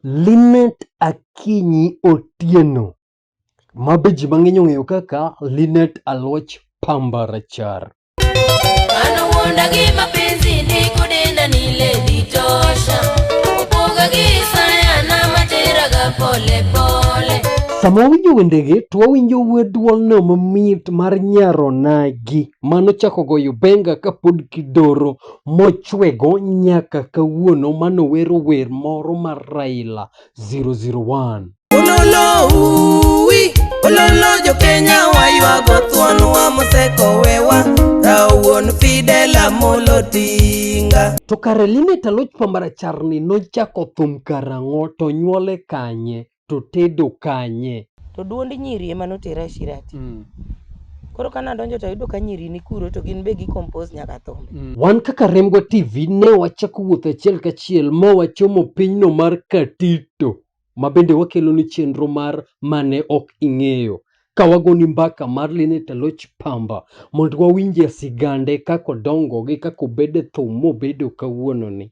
Linet Akinyi Otieno ma be ji mang'eny ong'eyo kaka Linet Aloch Pamba Rachar. Anawuonda gi mapenzi ndiko denda ni lady tosha Upoga gi saya na matera ga pole pole Sama wawinjo wendegi to wawinjo wuod dwolno mamit mar nyaronagi mano chako goyo benga kapod kidoro mochwego nyaka kawuono manowero wer moro mar Raila 001. Ololo uwi, ololo jo Kenya waywago thwonwa mosekowewa, rawuon Fidel Amolo Tinga. To kare Linet Aloch Pamaracharni nochako thum karang'o to nyuole kanye? to tedo kanye? To duond nyiri ema notera e Shirati. Mm. Koro ka nadonjo to ayudo ka nyiri ni kuro to gin be gi compose nyaka thumbe. Mm. Wan kaka Remgo TV ne wachako wuoth achiel kachiel ma wachomo pinyno mar Katito ma bende wakelo ni chenro mar mane ok ing'eyo ka wagoni mbaka mar Linet Aloch Pamba mondo wawinje sigande kako dongo gi kako bede thum mobedo kawuononi.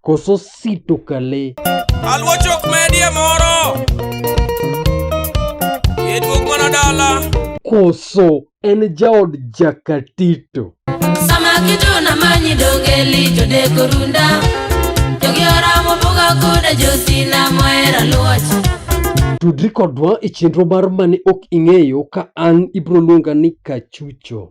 Koso sito kale. Aluo chok medie moro. Yeduok mana dala. Koso en jaod jakatito. Sama kitu na manyi dogeli jode korunda. Jogi ora mobuga koda josina moera luoch. Tudri kodwa e chenro mar mane ok ing'eyo ka an ibro luonga ni Kachucho.